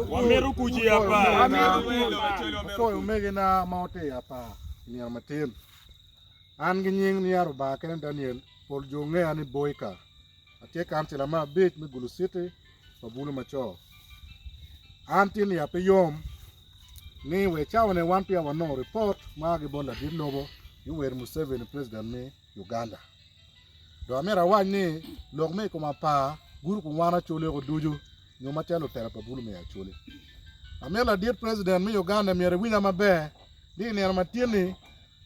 Wamito kuc i apar. Apwoyo omegina ma watye i apar i nino matin. An ki nying niya Rubanga kene Daniel, pol jo ngeya ni Boyka. Atye kancila me abic me Gulu Citi pa Bulu Macoo. An tin iya pe yom ni wa i cawani wan peya wanongo ripot ma a ki bot ladit lobo Yoweri Museveni, Pulezident ni, Uganda. Dong amito awac ni lok me i kom apar gurupu wan acoleko ducu nyo macalo lutela pa bulu me Acholi. Amito ladit President me Uganda myero iwinya maber ni i nino matin-ni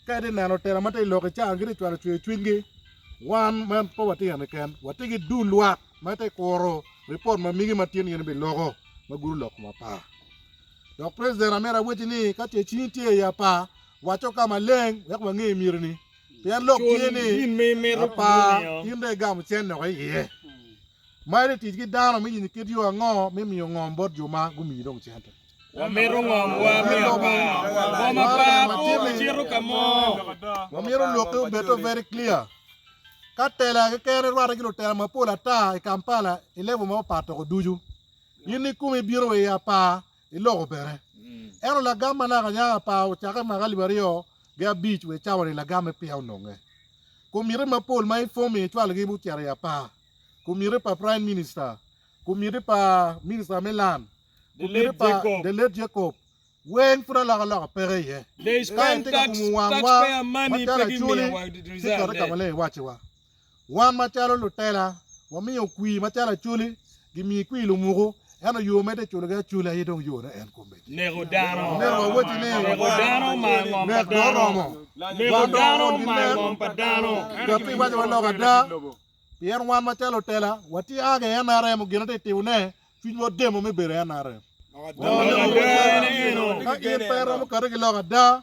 ka itye neno lutela ma tye i lok i can gitye cwalo cwer cwinygi wan ma pe watye eni ken watye ki dul lwak ma ite kuro ripot ma migi matin in ibiloko ma guru lok kom apar. Dok President amito awacci ni ka ce cingi tye i apar wacco ka maleng wek wange myero ni Pien lok tye ni, apar in dong igamo cen loko i iye. Ma en tic ki dano me yenyo kit yo ango me miyo ngom bot jo ma gumiyi dong cente? Wamito ngomwa me apar. Ngom apar pe ocito ka mo. Wamito lokke obed to very clear. Ka tela kekene rwate ki lutela mapol ata i Kampala i level ma opato woko ducu. In ni kumi ibino wa i apar. i loko bene. Ento lagam ma naka nya apar ocakke maka alip aryo gi abic wa i cawa-ni lagamme peya ononge. Komitti mapol ma i fomi ecwalogi ocito i apar, Komitti pa Prime Minister, Komitti pa Minister me Land, Komitti pa The late Jacob, weng pud alok aloka peke iye. Ka en tye ka kumo wangwa macalo acoli ci keto ka maleng iwacciwa. Wan macalo lutela, wamiyo kwir macalo acholi, gimiyi kwir lumuku, ento yo medde culogi acula aye dong yone en kome. Neko dano, neko dano mar ngom pa dano, neko dano mar ngom pa dano. Dok pi waco wa lok ada, pien wan macalo lutela, watye a ga i nrm, gin atye timone, cwinywa odemo me bedo i nrm. Lok ada en eno. Ka in pe iromo kati ki lok ada,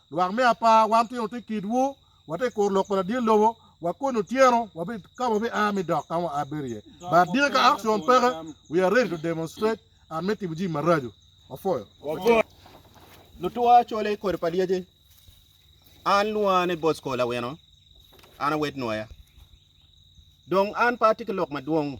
Lwak me apar wan twero te kitwu, wate i kor lok pa ladye lobo, wa koni otyeno wabi ka wabi a mi dok kama wa a bedo iye. But dine ka action peke, we are ready to demonstrate and me timo jimi maraco. Wapwoyo. Lutua cole kodi pa lyeci. An lwonga ni Bosco Lawino, an awed Nwoya. Dong an pe atye ki lok madwong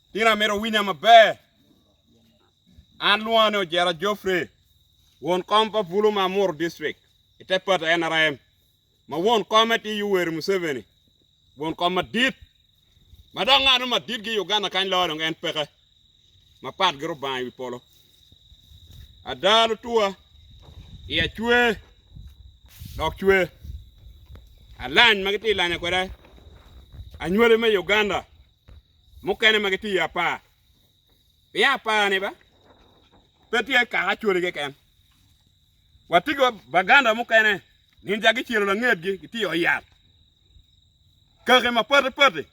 Tin a myero owinya maber. An lwonga ni Ojera Geoffrey, won kom pa Bulu ma Amuru District i te pati nrm, ma won kome tye Yoweri Museveni, won kom madit, ma dok ngat mo maditgi i Uganda kany loyo dong en peke, ma patgi Rubanga i wi polo. Ada lutuwa, iya cwe dok cwe. Alany ma gitye ka lanya kwede anywali me Uganda. mukene ma gitye i apar, pien apar-ni ba pe tye kaka Acholi keken. Watigo baganda mukene ni ja gicelo langetgi gitye i ot yat. Kaki mapati pati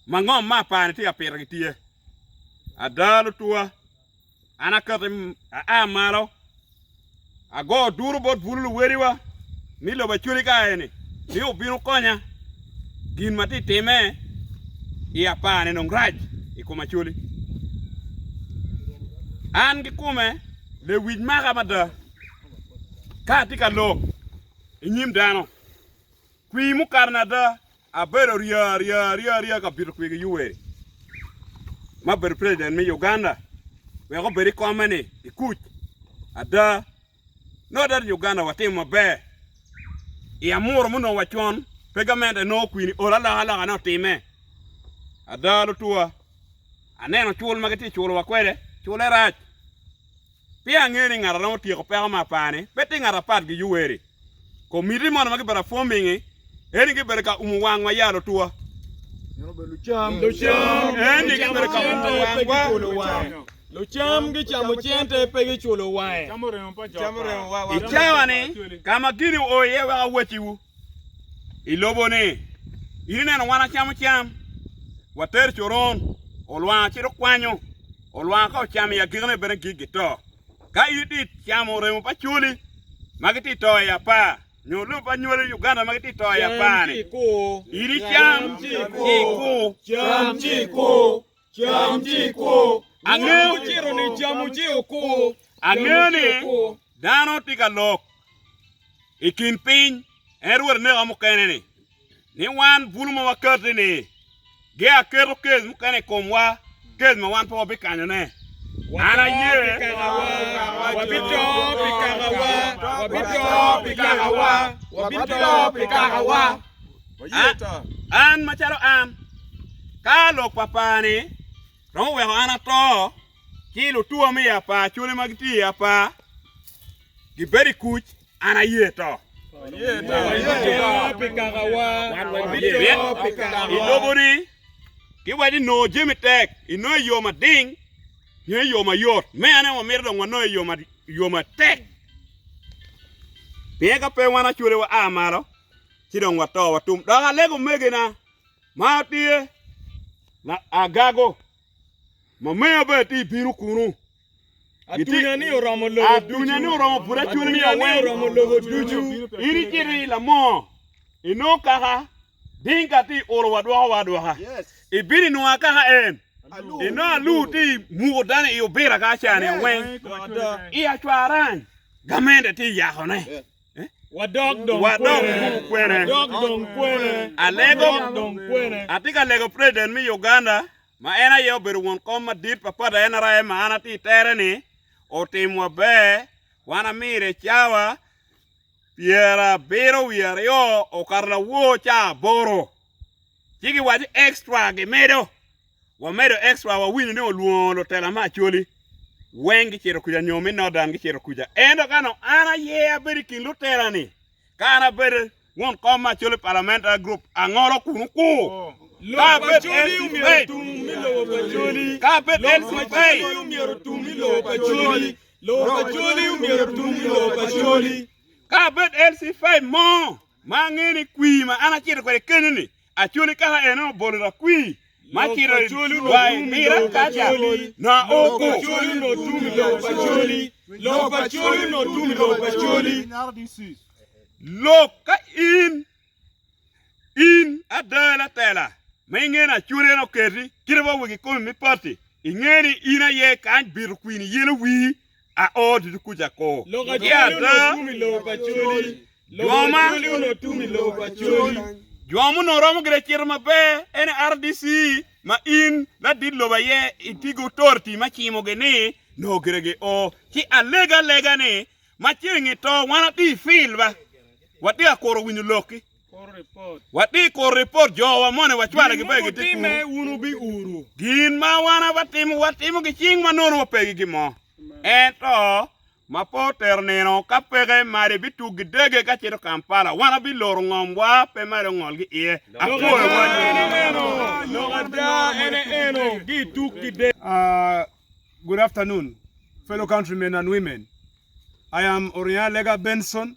ma ngom ma apar-ni tye ka pito gitye. Ada, Lutwa. An akati aa malo, ago duru bot bulu luweliwa ni lobo acwali ka eni, ni wubino konya. Gin ma atye ka timme i apar-ni dong rac i kom acwali. An kikome lewic maka mada ka atye ka lok i nyim dano kwir mukato ni ada. Abedo rya rya rya rya ka bito kwigi Yuweri ma obedo president me Uganda wek obed i kome ni i kuc. Ada, nongo ada ni Uganda watimo maber i amuru ma onongo wacon pe gamente en nongo kwini olo alokaloka ne otime. Ada lutuwa, aneno cul ma gitye ka culowa kwede, cule rac. Peya angeyo ni ngat a romo tyeko peko me apar-ni pe tye ngat apat ki Yuweri. Komitti mono ma gibedo afomingi eni gibedo ka umo wangwa ya lutwa. Eni gibedo ka umo wangwa. Lucam gicamo cente pe giculo wange. I cawa-ni, ka ma gini oo iye wek awacciwu, i lobo ni, In ineno wan wacamo cam, watero coron, olwar ci dok kwanyo, olwar ka ocamo i agikine bene gik gito. Ka in itye camo remo pa coli ma gitye to i apar, nyo lobo pa nywali Uganda ma gitye to i apar-ni, in icam ci ikur. Cam ci iku. Angeyo ciro ni camu ci oku. Angeyo ni dano tye ka lok i kin piny en rwod neka mukene ni ni wan bulu ma wakati ni ge aketo kes mukene i komwa kes ma wan pe wabikanyo ne an aye wabito pi kakawa wabito pi kakawa wabito pi kakawa An macalo an, ka lok pa par-ni romo weko an ato, ci lutua me i apar cwale ma gitye i apar gibedo i kuc, an aye to. I lobo-ni giwaco ni nongo jami tek, inongo i yo mading nyo i yo mayot. Me ane wamito dong wanong i yo matek pien ka pe wan acwale waa malo. ci dong wato watum. Dok alego omegina ma tye agago ma meya bene tye bino kunu. Atunya ni oromo lobo atunya ni oromo pud acwele ni aweng oromo lobo ducu. In icito i lamoo inongo kaka Dinka tye olo wadwoko wa adwoka. Ibino inongo akaka en. Inongo Alur tye muko dano i obira ka aca ni aweng. I acwarang gamende tye yakone. Wadok dong kwene. Alego, atye ka lego President me Uganda ma en aye obedo won kom madit pa pati NRM ma an atye i tere-ni, otim maber, wan amire cawa pyerabiro wiye aryo okato lawor cawa aboro, ci giwaco extra gimedo. Wamedo extra wawinyo ni olwongo lutela me Acholi weng gicito kuca nyo me Northern gicito kuca. Ento ka nong an aye abedo i kin lutela ni ka an abedo won kom me Acholi Parliamentary Group angolo kunu ku. Ka abed LC5 mo ma ange ni kwir ma an acito kwede keni ni Acoli kaka en obolo lakwii ma cito i dwa i pira kaca na oko. Acoli no tum i lok pa coli. Lok acoli no tum i lok pa coli. Lok ka in in ada latela ma ingeni acoli en oketi kite wa wigi komi me pati ingeni in aye kany bito kwini yelo wii. Ao ducu kuca ko. Lok acwali onongo tum i lobo pa cwali. Lok acwali onongo tum i lobo pa cwali. Jwa muno romo gire cito maber ene RDC ma in ladit lobo aye iti gi authority ma cimo gi ni noo gire gi o ci alega alega ni ma ceng ito wan ati field ba wati akuro winyo lok ki Wati kuru ripot jowa moni wacwale ki begi ti kunu. wun bi uru. Gin ma wan awatimo watimo ki cing ma nono wapegi ki mo. Ento ma po tero nino ka peke made bi tuk gi dege ka cito Kampala wan abi loro ngom wa pe made ongol ki iye. Apwoyo wa nyo. Lok ada ene eno gi tuk gi dege. Uh, good afternoon, fellow countrymen and women. I am Oriana Lega Benson,